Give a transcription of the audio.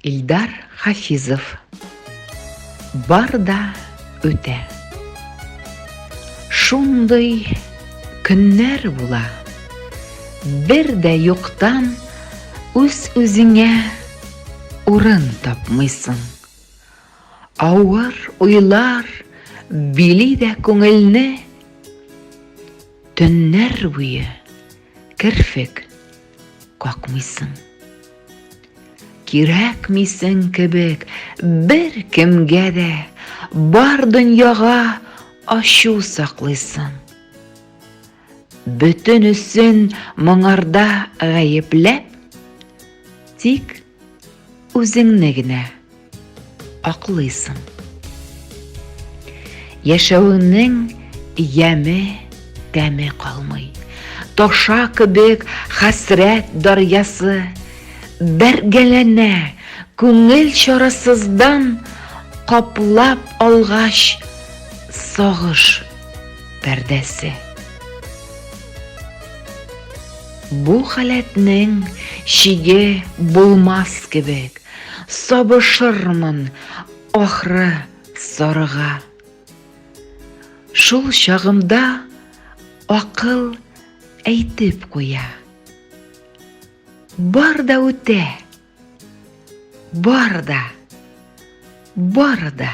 Илдар Хафизов Бар да үтә Шундый көннәр була Бер дә юктан үз үзеңә урын тапмыйсың Авыр уйлар били дә күңелне Төннәр буе керфек Какмыйсың. Кирәкмисең кебек бер кемгә дә бар дөньяга ачу саклыйсың. Бөтенесен моңарда гаепләп, тик Үзеңне генә аклыйсың. Яшәвеңнең яме, тәме калмый. Таша кебек хәсрәт дарьясы бәргәләнә күңел чарасыздан каплап алгач сагыш пәрдәсе. Бу халәтнең чиге булмас кебек, сабышырмын, ахры, сарыга. Шул чагымда акыл әйтеп куя. Бар да үтә, бар да, бар да.